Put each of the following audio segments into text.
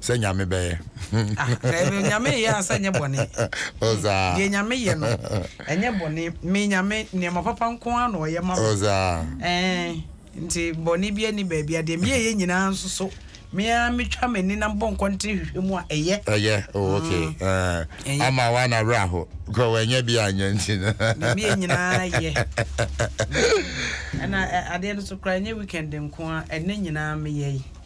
sɛ nyame bɛyɛ ah, nyame yɛ ansa nyɛ bɔne deɛ nyame yɛ no ɛnyɛ bɔne me nyame nneɛma papa nko a na ɔyɛ ma me nti bɔne bi ani baabi a deɛ meyɛyɛ nyinaa nso so mea metwa m'ani na mbɔ nkɔnten hwehwɛ mu a ɛyɛ ɛyɛ oh, ok mm. ama wa na werɛ aho kɔ wɔanyɛ bi anyɛ nti no meyɛ nyinaa yɛ ɛna adeɛ no so kora ɛnyɛ weekend nko a ɛnɛ nyinaa meyɛ yi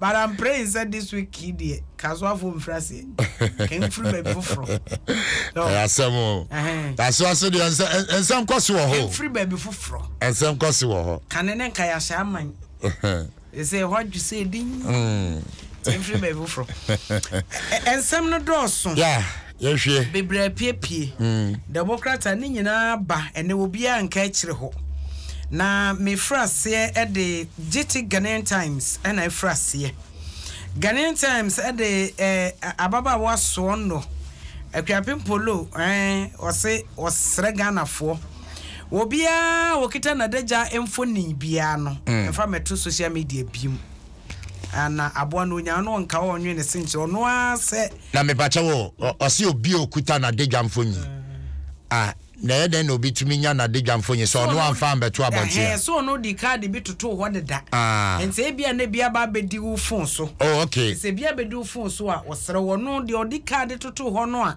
But I'm praying sɛ this week yi deɛ kasoafoɔ mfiri aseɛ kɛn mfiri baabi foforɔ. ɛyɛ asɛm o kasoa so deɛ nsɛm kɔ so wɔ hɔ. mfiri baabi foforɔ. nsɛm kɔ so wɔ hɔ. kane ne nka yɛahyɛ aman. ɛsɛ ɛhɔ adwo sɛ ɛdin. mfiri baabi foforɔ. nsɛm no dɔɔso. Yɛhwɛ. Bebree apiepie. Democrat a ne nyinaa ba ɛnɛ obiara nka akyire hɔ. Na mefiri aseɛ ɛde Gyiti Ghanaian Times ɛna ɛfiri aseɛ. Ghanaian Times ɛde ɛɛ ababaawa soɔ nnɔ Akuapem Polo ɛɛ ɔse ɔsrɛ Ghanafoɔ obiara ɔkita nadagya mfonin biara no mfa mɛto social media biom. Ah na aboa no onyaa no nka ɔnwe ne se nkyerɛ ɔno ara sɛ. Na mepakyɛ wo o, ɔse obi a okuta n'adagya mfonyin. Ah na ɛyɛ dɛn na obi tumi nya n'adagya mfonyin sɛ ɔno amfa ammɛto abɔnten a. Ɛhɛɛ so ɔno de kaade bi totoo hɔ deda. Ah. Enti ebia na bi aba abɛdi wo fon so. Oh okay. Enti sɛ bi abɛdi wo fon so a ɔsrɛ wo, ɔno deɛ ɔde kaade totoo hɔ no a.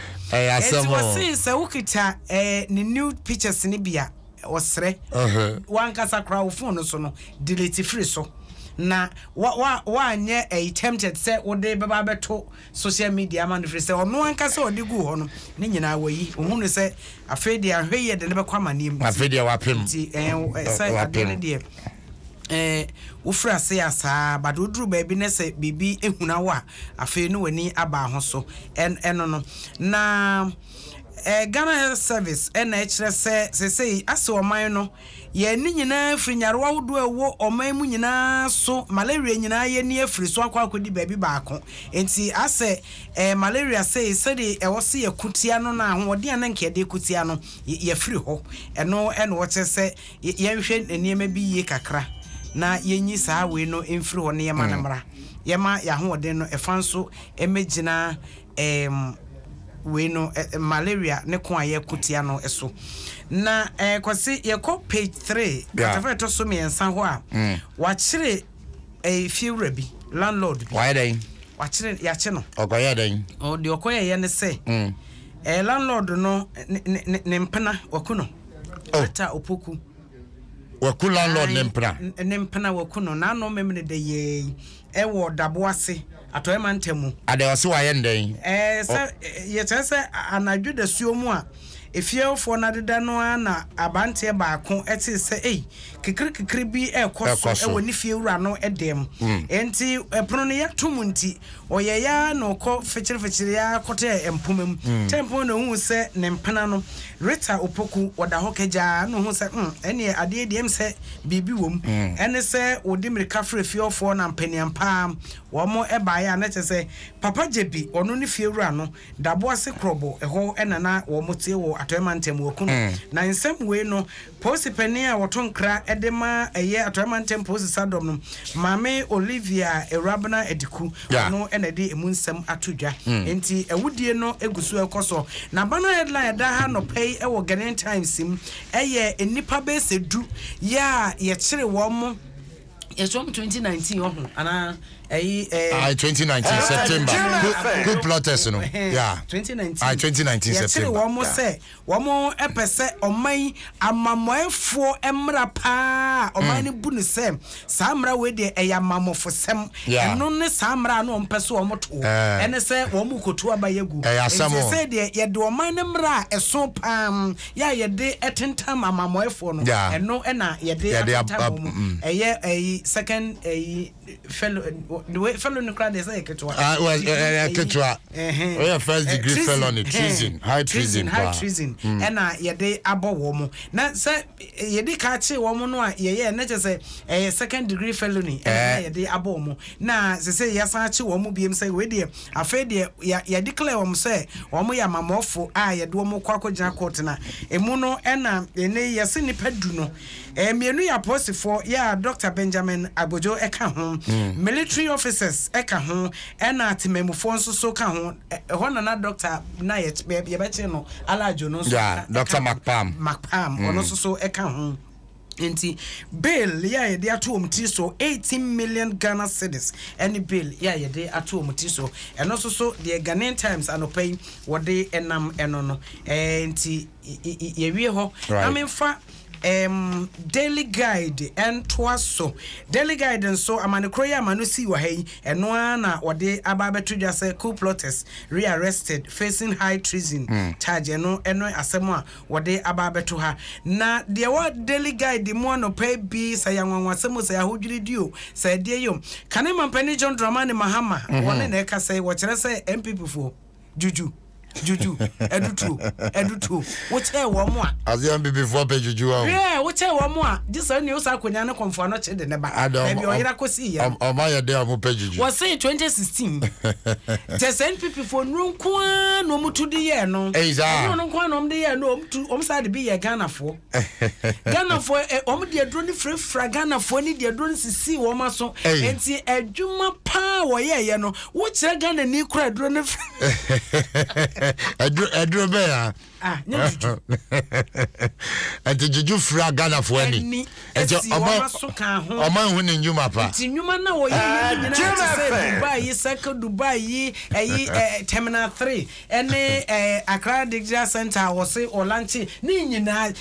Ɛyɛ asɛm o. Enti wɔsee sɛ wokita eh, ne nude pictures no bi a, ɔsrɛ. W'ankasa koraa wo phone no so no, delete firi so. Na wa, wa, woanyɛ ɛyi tempted sɛ wode bɛba abɛto social media ama no firi sɛ ɔno ankasa a ɔde guu hɔ no, ne nyinaa wayi. Ohu no sɛ afei deɛ ahwɛyie de no bɛkɔ amanneɛ mu. Afei deɛ wapem. Nti eh, sɛ adeɛ no deɛ. eh, wofiri ase a saa, but woduru baabi na sɛ biribi huna wo a, afei ne w'ani aba ho so. Ɛn, ɛno no. Na eh, Ghana Health Service ɛna ɛkyerɛ sɛ seesei ase ɔman no, yɛn ani nyinaa firi nyarewa ahodoɔ a ɛwɔ ɔman mu nyinaa so, malaria nyinaa yɛn ani afiri so akɔ akɔdi baabi baako. Enti asɛ eh, malaria sei, sɛdeɛ ɛwɔ sɛ yɛko tia no no a, ahoɔden a na nka yɛde ko tia no, yɛ, yɛafiri hɔ. Ɛno na wɔkyerɛ sɛ yɛnhwɛ nneɛma bi yie kakra na yɛnyi saa wei no mfiri hɔ na yɛma no mmra. Yɛma yɛn ahoɔden no ɛfa nso mmɛgyina ɛɛm wei no ɛ malaria ne ko a yɛko tia no so. Na ɛɛ Kwasi yɛkɔ page three asafo a ɛtɔ so mmiɛnsa hɔ a wakyere ɛɛ fiewura bi landlord bi. Wayɛ dɛn? Wakyere yakye no. Ɔkɔyɛ dɛn? Ɔ deɛ ɔkɔyɛyɛ ne sɛ ɛɛ landlord no ne ne ne mpena waku no. Oh. Ata Opoku. Waku landlord ne mpena. Ne mpena waku no n'ano memene dɛ yɛɛyi ɛwɔ dabo ase atɔɛ mantam mu. Adɛ ɔse wayɛ ndɛn? Ɛɛ sɛ yɛkyerɛ sɛ anadwo dasuo mu a efiefoɔ no adeda no ara na abanteɛ baako ɛtee sɛ ei kekere kekere bi ɛɛkɔ so ɛwɔ ne fiewura no ɛdɛm. Ɛnti ɛpono no yɛato mu nti Ɔyɛe ara na ɔkɔ fekyerefekyereeɛ ara kɔtɛɛ mpoma mu. Tempɔn na ɔhuu sɛ ne mpena no, Rita Opoku, ɔda hɔ kagyaa, ɛnna ɔhuu sɛ, Humm, ɛnneɛ adeɛ deɛ ɛm sɛ biribi wom. Ɛne sɛ wɔde mmirika frɛɛ fie hɔfoɔ na mpaneampaa wɔn baeɛ a na kyerɛ sɛ Papa Gyebi, ɔno ne fiewura no, Daboase Krobo, ɛhɔ na na wɔte wɔ Atɔe Mantam wɔ Kunu. Na nsɛm wei no, Polisi panin a wɔto nkra de ma ɛyɛ Atɔe Mantam Polisi Sadɔm no, Maame Olivia Awurabena Adiku, ɔno na ɛde ɛmu nsɛm ato dwa. Enti awudie no gu so rekɔ so. Na aba no headline a ɛda ha anɔpa yi wɔ Ghanaian Times mu yɛ nnipa bɛyɛ sɛ du yɛ a yɛkyere wɔn. It's from 2019 ọhụ anaa ẹyi ẹ. Ayi 2019 September ku plotters no. Yeah. 2019. Ayi 2019 September. Yẹtiri wɔn mo sɛ wɔn mo pɛ sɛ ɔman yi amamɔɛfoɔ mmara paa ɔman mm. no bu no sɛ saa mmara wei deɛ ɛyɛ amamɔfosɛm. Ɛno ne saa mmara a na wɔn pɛ so wɔn to ɛne eh. sɛ wɔn mo kotu aba yɛ gu. Ɛyɛ asɛm o. Nti sɛ deɛ yɛde ɔman no mmara a ɛso paa Yɛ a yɛde tentam amammɔefoɔ no, ɛno na yɛde atentam wɔn. Mm. Ɛyɛ ɛyi second ɛyi fellow the way fellow no koraa deɛ sɛ yɛ ketewa. Ah, ɛyɛ ketewa. Ɛyɛ first degree eh, felony treason high treason high treason mm. ɛna yɛde abɔ wɔn na sɛ eh, yɛde ka kye wɔn no a yɛyɛ ɛnɛ kyɛ sɛ ɛyɛ second degree felony ɛna eh. yɛde abɔ wɔn na sɛ sɛ yɛsan akye wɔn biem sɛ wei deɛ Afei deɛ yɛ yɛ declare wɔn sɛ wɔn yɛ amammɔfo a yɛde wɔn rekɔ akɔgyina court na emu no ɛna ɛnɛ yi yɛse nnipa du no ɛɛ mmienu yɛ apolisifoɔ yɛ a Doctor Benjamin Agbodjo ɛka ho, military officers ɛka ho ɛna atemmamufoɔ nso so ka ho ɛ ɛhɔ na na doctor na yɛ yɛbɛkyere no Alajo no nso Yeah, ka Doctor ɛka ho, McPalm. McPalm ɔno nso so ɛka ho. Enti bail yi a yɛde ato wɔn tiri so, eighteen million Ghana cedis ne bail yi a yɛde ato wɔn tiri so. Ɛno nso so, deɛ Ghanaian Times anɔpa yi wɔde nam no no, eh, nti yɛwie hɔ na memfa um, Daily Guide ntoa so. Daily Guide nso, amane korɔ yi ama no sii wɔ ha yi, ɛno ara na wɔde aba abɛto dwa sɛ coup plotters re-arrested facing high treason hmm. charge. Ɛno ɛno asɛm a Wɔde aba abɛto ha. Na deɛ ɛwɔ Daily Guide mu anɔpa yi bi, sɛ ɛyɛ anwanwasɛm o, sɛ ɛyɛ ahodwiridi o, sɛ ɛdeɛ yi o, kane Mampanin John Dramani Mahama, wɔne na ɛkasa yi, wɔkyerɛ sɛ NPPfoɔ, dwudwu, dwudwu, adutuo, adutuo, wokyɛɛ wɔn a. Aseɛ NPPfoɔ pɛ dwudwu a o. Hwɛ, wokyɛɛ wɔn a, gye saa nua wosan akɔnya ne kɔmfoa no kye de no ba, Ada, baabi a ɔyera kɔsiiɛ no. Wɔn ayɛ dɛn a wɔpɛ dwudwu? Wɔse 2016, kyɛ sɛ NPP. Fonuro nko ara na wɔn tu de yɛɛ no. Ɛyi saa. Ɛhoro no nko ara na wɔn de yɛɛ no. Wɔn tu wɔn saa de bi yɛɛ Ghanafoɔ. Ghanafoɔ ɛ wɔn de aduro no firafira Ghanafoɔ ni de aduro no sisi wɔn aso. Nti adwuma paa wɔyɛɛyɛ no wokyerɛ Ghanani kura aduro no. Aduro aduro bɛyɛ a. Ah, ɛnti gyegye fira ghanafoɔ ani ɛnti ɔma ɔma nhu ne nnwuma pa nti nnwuma no ɔyɛ yɛ ah, nyina te sɛ dubai yi circle dubai yi ɛyi terminal 3 ɛne akra digital center a wɔse ɔlanche ne nyinaa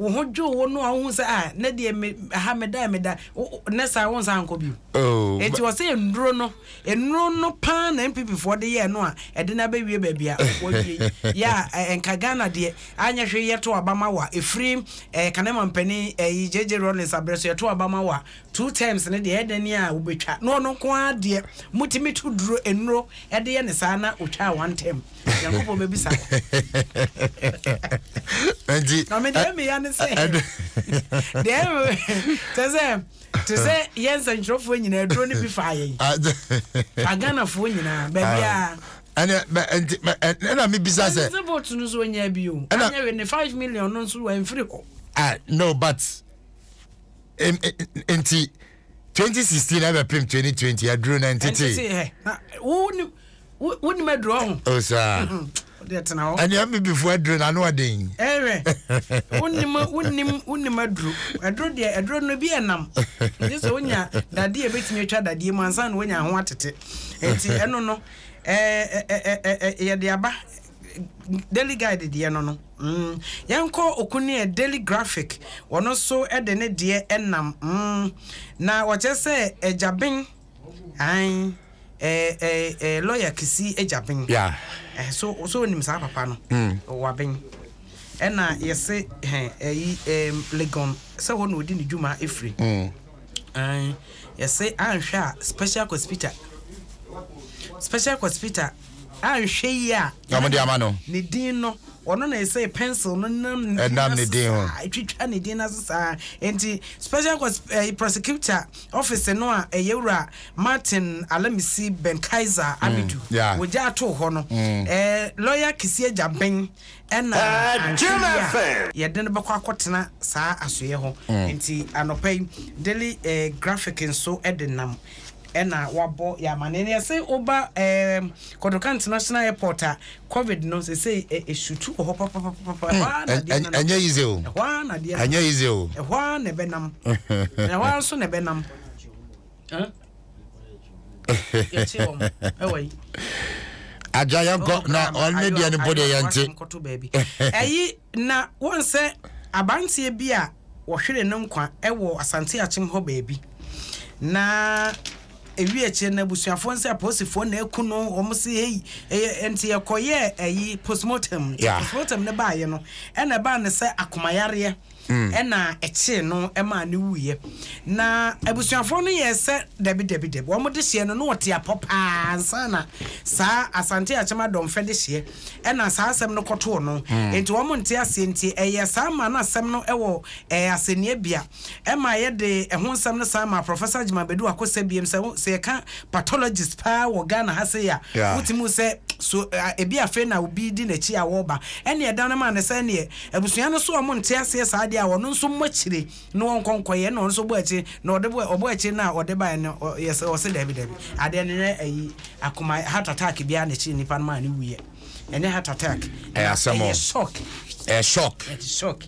Wo ho dwo wo no a wohu sɛ ah ne deɛ me aha meda meda ne saa wo nsa nkɔ bio. Oh, Eti wɔ sɛ nnuro no nnuro no paa na NPP foɔ de yɛɛ no a ɛde no abɛwie baabi a wɔwie yi. Yɛ a nka Ghana deɛ anyɛ hwee yɛto aba ma wa ɛfiri eh, kanema mpanin eh, JJ Rawlings abrɛ so yɛto aba ma wa two terms ne deɛ ɛdɛ ni a wobɛtwa na ɔno nko ara deɛ motumi to duro nnuro ɛde yɛ ne saa na ɔtwaa one term. nyankopɔn bɛbisa nti na mede ɛmeya no sɛ deɛ kyɛ sɛ te sɛ yɛ nsɛnkyerɛfoɔ nyinaa aduro no bi faa yɛn aghanafoɔ nyinaa baabiaa ɛna mebisa sɛ ɛne sɛ bot no so ɔnya bio anyɛ we ne 5 million no nso wamfiri hɔ ah no but nti twenty sixteen ɛbɛ pem twenty twenty aduro na ntete. ɛntete hɛ na wo ni wo wo ni ma aduro ɔho. o oh, saa. deɛ tena hɔ. ɛni ɛmi bi fo aduro na ano ɔden. ɛhwɛ wo ni ma wo ni wo ni ma aduro aduro deɛ aduro no bi yɛ nam nti sɛ wonya dadeɛ ebetumi atwa dadeɛ mu ansa na wonya ho atete nti ɛno no ɛɛ ɛɛ ɛɛ yɛde aba. Daily Guide deɛ no no mm, yɛnkɔ Okuneɛ Daily Graphic ɔno nso de ne deɛ ɛnam mm, na ɔkyerɛ sɛ Agyaben an ɛɛ ɛɛ lɔya kisi Agyaben yeah. eh, so so onim saa papa no mm. waben ɛna yɛse hɛn ɛyi ɛɛm Legon sɛ hɔ na odi ne dwuma efiri mm. ɛn yɛse anhwɛ a special hospital special hospital anhwɛ yi a na wɔde ama no ne din no ɔno na ɛsɛ pencil no nam ɛnam ne din ho ɛtwitwa ne din n'ase saa nti special eh, prosecutor office no a ɛyɛ wura martin alamisi ben kaiser mm, amidu wɔgya ato hɔ no mm. eh, lawyer kisi agya ben Ɛna anhwɛ yie a, yɛde no bɛkɔ akɔtena saa asoeɛ hɔ. Nti anɔpa yi, Daily Graphic nso de nam na wɔabɔ yɛn amanneɛ. Na yɛse woba Kotoka International Airport a, Covid no seesei ɛsutu wɔ hɔ papapapa. Ɛhɔ ara na adeɛ no nam. Ɛnyɛ easy o. Ɛhɔ ara na adeɛ no nam. Ɛnyɛ easy o. Ɛhɔ ara na ɛbɛnam. Ɛhɔ ara nso na ɛbɛnam. agya yɛnkɔ na ɔne deɛ no mpo deɛ yɛnte ɛyi na wɔn sɛ aberanteɛ bi a wɔhwere no nkwa wɔ asante akyem hɔ baabi na ewi akyire na abusuafoɔ nsɛ apolisifoɔ na eku no wɔn si eyi ɛyɛ nti ɛkɔyɛ ɛyi postmortem postmortem ne baayɛ no ɛna ɛbaa ne sɛ akomayareɛ. na ɛkyee no maa no wuiɛ. Na abusuafoɔ no yɛɛ sɛ dabi dabi dabi, wɔn dehyeɛ no na ɔte apɔ paa ansa na saa Asante Akyem Adɔmfɛ dehyeɛ na saa asɛm no kɔtoo no. Enti wɔn nte aseɛ nti ɛyɛɛ saa maa no asɛm no wɔ asɛnniabea maa yɛde ɛho nsɛm no san maa Professor Agyeman Badu Akosɛ biom sɛ sɛ yɛka pathologist paa wɔ Ghana ha sei a wotumi hu sɛ so ebi afei na obi di n'akyi a wɔreba ɛnneɛ ɛda no maa no sɛ ɛnneɛ Abusua no so a ɔmo nte aseɛ saa deɛ a, ɔno nso mmɔ akyire na ɔnkɔ nkɔyɛ ɛna ɔno nso ɔbɔ akyire na ɔde bɔ ɔbɔ akyire no a ɔde baeɛ no ɔ yɛ sɛ ɔse daabi daabi adeɛ no nyɛ ayi akoma heart attack biara na ɛkyeree nipa no maa no wuiɛ ɛnyɛ heart attack Ɛyɛ na asɛm o. ɛyɛ shock Ɛyɛ shock. ɛte shock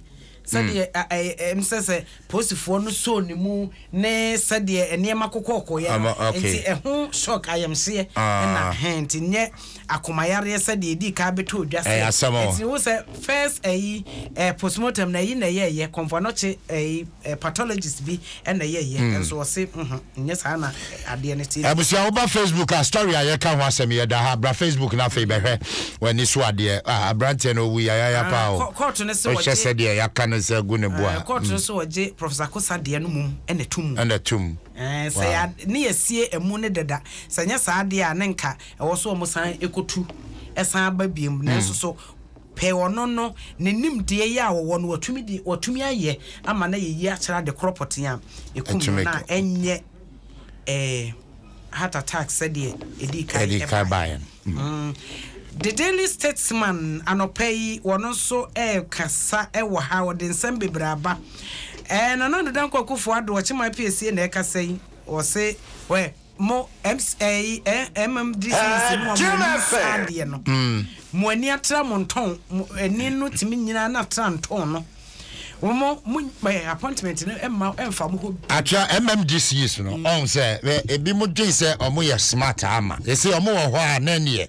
sɛdeɛ ɛ ɛ ɛm sɛ sɛ. Posifoɔ no soo ne mu ne sɛdeɛ nneɛma kokɔɔkooeɛ no, Ama, okay. enti ɛho shock, ayamhyeɛ, Ah. na hɛn, enti nyɛ akomayareɛ sɛdeɛ edii kan bɛtɔɔ dwa Ɛyɛ sɛ, asɛm o. enti wohu sɛ first ayi, eh, postmortem no, ayi na ɛyɛɛyɛ, kɔmfoanɔkye, ayi, eh, pathologist bi na ɛyɛɛyɛ, nso ɔse, mhm, nyɛ saa na. adeɛ no te. Abusua woba Facebook a story a yɛka ho asɛm yi ɛda ha bra Facebook na afei bɛhwɛ w'ani so adeɛ ah abranteɛ no owu yayaya Ah, paa o kɔ- kɔɔto no se wohwɛ wɔgye- sɛdeɛ yɛaka no sɛ agu ne bo a Eh, kɔɔto no mm, se wɔgye Professor Akosa deɛ no mmom na ɛto mu. ɛna tom Eh, sɛ wow. yɛa- ne yɛasie amu no dada, sɛ nyɛ saa deɛ a ne nka ɛwɔ so wɔn san kɔtu san ba biom, nanso Mm. so pɛ ɔno no ne nimdeɛ yi a wɔwɔ no watumi de watumi ayɛ ama no ayɛ yie akyɛre ade korɔ pɔtee a ɛkum no Atumi na ɛnyɛ eh, heart attack sɛdeɛ ɛdii kan ɛdii kan baeɛ no. Mm. Mm. The Daily Statesman anɔpa yi wɔn nso ɛrekasa ɛwɔ ha wɔde nsɛm bebree aba ɛɛ eh, Nana Ado Dankwa Akufo Addo ɔkyema apiesie na ɛkasa yi wɔse wɛ mo ɛms ɛyi eh, ɛɛ eh, MMDC si mu a mo ani saa adeɛ no mm. mo ani atra mo ntɔn mo ani no tumi nyinaa na atra ntɔn no. wɔn mo eh, appointment no ɛma ɛnfa mo hɔ. akyerɛ mmdcs no mm. ɔn sɛ ebi mo dwen sɛ ɔmo yɛ smart ama esi ɔmo wɔ hɔ a na neɛ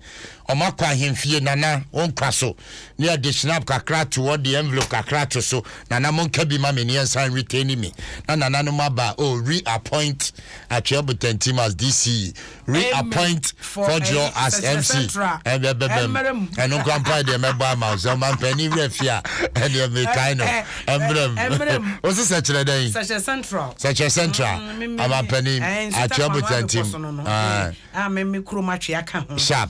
ɔmo akɔ ahemfie nana wɔn kwa so ne ɛde snap kakra to hɔ de envelope kakra to so nana mo nka bi ma mi neɛ nsan retain mi na nana no mo aba o oh, reappoint akyerɛ botantim as dc. reappoint Fɔdwoɔ as MC ɛnde ɛbɛbɛ mu ɛno nkora mpa deɛ mɛbɔ ama wo sɛ ɔmampanin werɛ fi a ɛdeɛ mekae no ɛmmerɛ mu wo se sɛ kyerɛ dɛn sɛ kyerɛ central amampanin atwea botantim sharp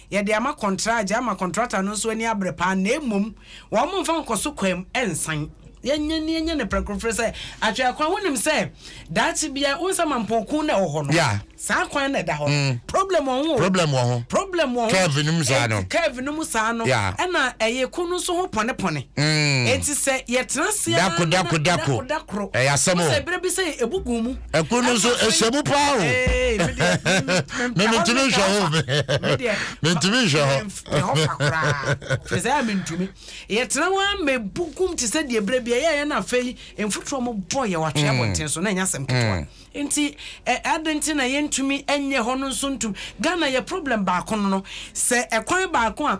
Yɛde ama kɔntragye ama kɔntrata no nso ani abere paa na mmom wɔmfa nkɔso kwaam nsan. Yɛnyɛ ne yɛnyɛ ne prɛkorofrɛ sɛ ahwɛ akwan wonim sɛ daakye bia wo nsama mpɔɔkun na ɛwɔ hɔ no yeah. saa kwan na ɛda hɔ no mm. problem wɔ ho problem wɔ ho problem wɔ ho curve no mu saa no curve no mu saa no yeah. ɛna ɛyɛ ko no nso ho pɔne pɔne mm. enti sɛ yɛtena ase dako dako dako dako ɛyɛ asɛm o sɛ ebere bi sɛ ebugu mu ɛko no nso ɛhyɛ mu paa o me mentumi nhwɛ ho mentumi nhwɛ hɔ firi sɛ mentumi yɛtena hɔ a mɛbukum te sɛ deɛ berɛ bia yɛyɛ no afei mfotoɔ mo bɔ yɛ watwe abɔnten so na ɛnyɛ asɛm ketewa nti ade nti na yɛntumi ɛnyɛ hɔ no nso ntum ghana yɛ problem baako no no sɛ ɛkwan baako a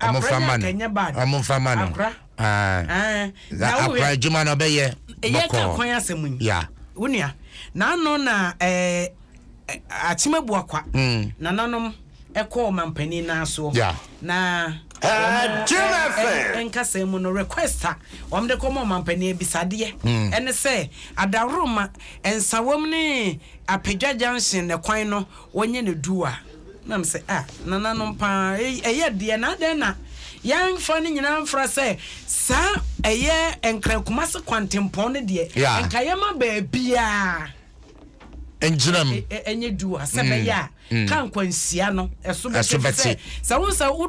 wɔmfama no wɔmfama no akora adwuma no ɔbɛyɛ bɔkɔɔ ya wonua n'ano na ɛɛ akyima bu akwa hmm. nananom ɛkɔɔ mampanin nan soɔ na nkasa mu no request a wɔn de kɔma ɔmampanin abisadeɛ hmm. ɛne sɛ adaworoma nsawam ne apadwa junction ne kwan no wɔnyɛ ne du a. Na me se, ah, nananom paa, ɛyɛ deɛ, na adɛn na yɛamfa ne nyinaa mfra sɛ saa ɛyɛ Nkran-Kumasi kwantempɔn no deɛ, yeah. nka yɛma baabiara ngyinam ɛnyɛ du a sɛ bɛyɛ a ka nkwanhyia no ɛso bɛte sɛ sɛ wo sɛ wo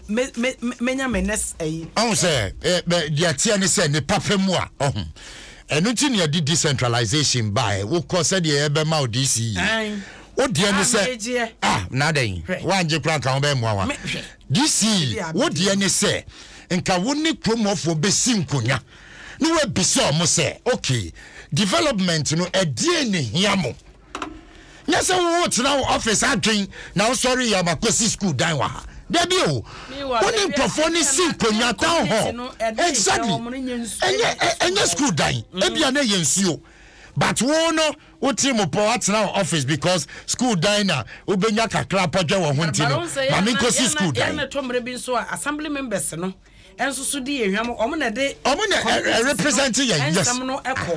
me me menya me next ayi. ɔn sɛ ɛ deɛ ɛteɛ ne sɛ ne papa mu a ɔho ɛno nti ne ɛde decentralization baɛ wokɔ sɛdeɛ yɛbɛma wo DC yi wodeɛ ne sɛ a na adɛn woangye kora nka wobɛɛ mmoa wa DC wodeɛ ne sɛ nka wo ne kuromɔfoɔ bɛsi nkonya ne woabisa ɔmo sɛ okay development no ɛdeɛ ne hia mo nyɛ sɛ wowo tena wo ɔfis adwen na wosɔre yɛ ɔma kɔsi skuul dan wɔ ha dabi o wone nkurɔfoɔ ne si nkonnwa town hall exactly ɛnyɛ skuul dan ebia na ɛyɛ nsuo but wo no wo tiri mu pɔ atena wɔ office because school dan na wobɛnya kakra pɔdwɛ wɔ ho nti no ma menkɔsi school dan. ɛyɛ mɛtɔ mmerɛ bi nso a assembly members no nso so di yɛ hwam wɔn na ɛde wɔn na ɛrepresent yɛn yes nsɛm no ɛkɔ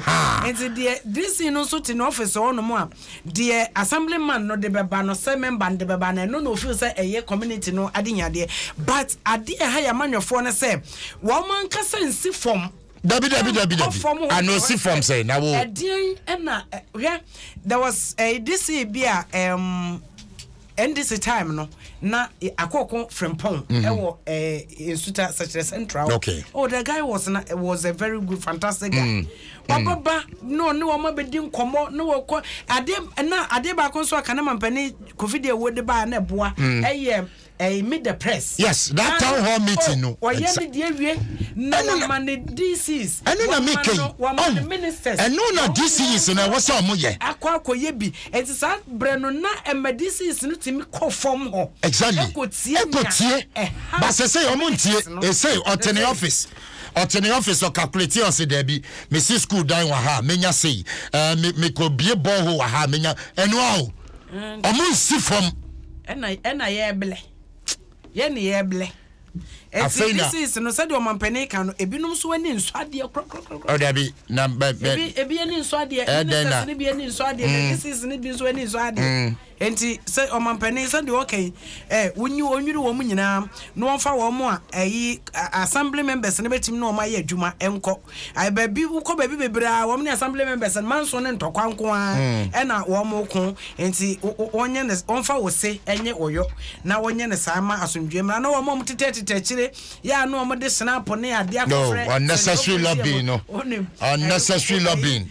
nti deɛ dc no nso te n'ɔfis hɔ nom a deɛ assembly man no de bɛba no sɛ member no de bɛba no ɛno na ofil sɛ ɛyɛ community no adenyadeɛ but adeɛ ɛha yɛ amanyɔfoɔ no sɛ wɔn ankasa nsi fam dabi dabi dabi dabi ana osi fam sɛ na wo ɛdeɛn ɛna hwɛ there was uh, eh, dc bi a um, Ndc time no na akoko frimpong ɛwɔ ɛɛ nsuta sɛkyerɛ central okay. oh the guy was na was a very good fantastic guy mm. wababa no ne wɔn abɛdi nkɔmɔ ne wɔkɔ adeɛ na adeɛ baako nso aka ne mampanin kofi deɛ wɔde baa na ɛboa ɛyɛ ɛyɛ meet the press yes that town hall meeting no ɔyɛ ne deɛ wie na wɔma ne dcs ɛno na mi kɛyi wɔma ne ministers ɛno na dcs na ɛwɔ sɛ ɔmo yɛ akɔ akɔ yɛ bi Enti saa berɛ no na ɛma disease no tumi kɔ fam hɔ Exactly. ɛkɔtie nea Ɛkɔtie. ɛha But sɛsɛi ɔmo ntie. disease no. Ɛsei ɔte ne Sɛsɛi. office. Ɔte ne office ɔcalculateɛ ɔse daabi mesi school dan wɔ ha a menya sei. Ɛɛ me mekɔ bie borehole wɔ ha a menya ɛnoa o. Ɔmo nsi fam. Ɛna ɛna yɛɛblɛ. Yɛne yɛɛblɛ. Afei na. Eti this is no sɛdeɛ ɔmampanin ka no ebinom nso ani nsɔ adeɛ korakorakorakora. Ɔ dabi na bɛ bɛ. Ebi ebi ani nsɔ adeɛ. Ɛɛ dɛn na. Ministers no bi ani nsɔ adeɛ. Mm. This is no bi nso ani nsɔ adeɛ. Mm. Enti sɛ ɔmampanin sɛdeɛ ɔka yi ɛɛ eh, wonyi wɔnwiri wɔn nyinaa na wɔmfa wɔn a ɛyi assembly members no bɛtumi ne wɔn ayɛ adwuma nkɔ. Ae baabi wokɔ baabi bebree a wɔn ne assembly members no manso ne ntɔkwa nko ara ɛna wɔn ko nti wɔnyɛ ne wɔnfa wo se ɛnye wo yɔ na wɔnyɛ ne saa ma asomdwie mmra na wɔn a wɔn tetɛ tetɛ akyire yɛ a na wɔn de snap ne adeɛ akɔfrɛ no unnecessary lobbying no unnecessary lobbying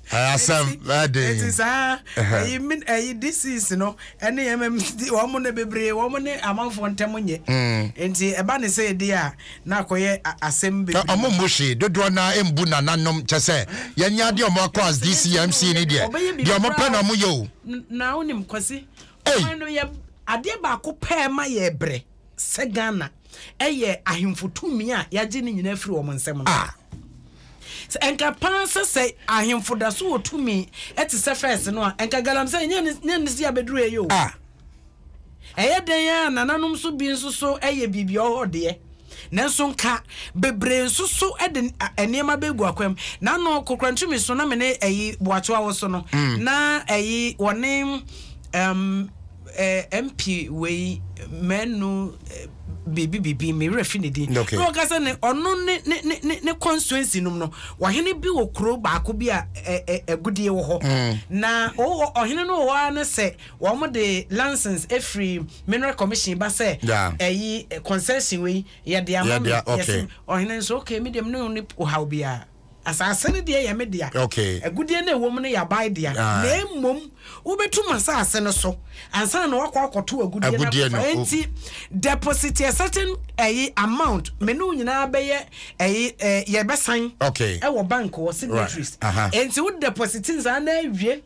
asɛm ɛden ɛti saa ɛyi min ɛyi disease no ɛne ɛmɛm wɔn ne bebree wɔn ne amanfoɔ ntɛm nyɛ nti mm. ɛba ne sɛ ɛdi a na akɔyɛ asɛm bebree ɔmo mbu hwee dodoɔ na mbu nananom kyɛ sɛ yɛn nyɛ adeɛ ɔmo akɔ as dcmc ne deɛ deɛ ɔmo pɛ na ɔmo yɛ o na onim kwasi ɔman no yɛ adeɛ baako pɛɛ ma yɛ brɛ. sɛ Ghana yɛ ahemfo tumi a yɛagye ne nyinaa firi wɔn nsam no. Ah. Sɛ ɛnka paa sɛ sɛ ahemfo da so wɔ tumi te sɛ fɛs no a, ɛnka galamsɛ nyɛ ne nyɛ ne si abɛduru ɛyɛ o. Ah. Ɛyɛ dɛn a nananom so bi nso so ɛyɛ biribi ɔhɔ deɛ. Nanso nka bebree nso so de nneɛma bɛgu akwam. Na no kokora ntumi so na me ne ɛyi boatoa wɔ so no. Mm. Na ɛyi wɔne um, Eh MP wei mɛnu biribi biribi me werɛ fi ne din okay. na ɔka sɛ ne ɔno ne ne ne ne constituency nom no ɔhene bi wɔ kuro baako bi a agudeɛ wɔ hɔ mm. na ɔwɔ ɔhene no wɔ hɔ ara ne sɛ wɔn de license efiri mineral commission ba sɛ ɛyi yeah. concession wei yɛde ama mi yɛsɛ ɔhene nso okay mi deɛ mi ne ne ɔhaw biara. Asase no deɛ yɛ me dea, agudeɛ no a ɛwɔ mu no yɛ aban dea, na mmom wobɛtu m'asase no so ansa na wakɔ akɔto agudeɛ no akɔfa. Enti deposit a certain ɛyi amount me ne wo nyinaa bɛyɛ ɛyi eh, yɛbɛsan ɛwɔ bank wɔ signatories. Enti wo deposit nsa na awie.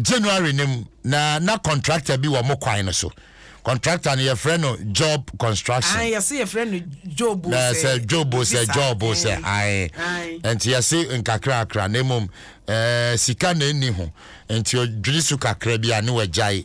January no mu na na contractor bi wɔ mo kwan no so. Contractor no yɛfrɛ no Job Construction. Ae, yɛse yɛfrɛ no Job o sɛ. Sɛ Job o sɛ, Job o sɛ, ae. Nti yɛse nkakrakra na mmom eh, sika na ɛnni ho. Nti ɔdwene su kakra bi a ne wagyae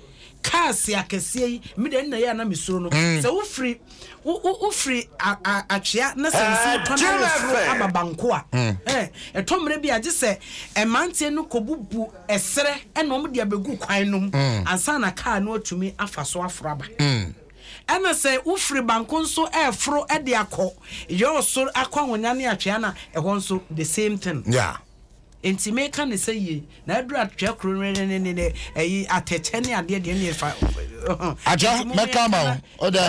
cars akɛseɛ yi me deɛ nna yɛ a na me suro no mm. sɛ wofiri wofiri atwea na sɛ nsuo eh, tɔ na yɛ soro aba banko a mm. eh, ɛtɔ mmerɛ bi a gye sɛ mmeranteɛ no kɔbubu ɛserɛ ɛna wɔn de abɛgu kwan no mu mm. ansa na kaa no atumi afa so aforo aba ɛna sɛ wofiri banko nso ɛreforo de akɔ yɔɔ soro akɔ ahonya ne atwea na ɛhɔ nso the same thing. Yeah. Enti meka no sɛ yei, na aduru atwetwɛ koro no ne ne ne ɛyi atɛkyɛ ne adeɛ deɛ ne ɛfa Agya, mɛka ama wo, wodɛ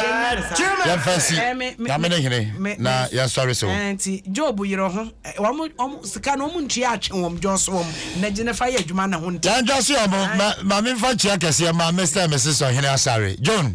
yɛmfa nsi Nyame ne hene na yɛnsɔre so. Enti Job yerɛ ho, wɔn sika no wɔn ntua atwe wɔn dwɔ so wɔn na gye ne fa yɛ adwuma ne ho nte. Yɛntwa so yɛ wɔn, ma memfa ntua kɛseɛ ma Mister and Mrs Ɔhene Asare, John.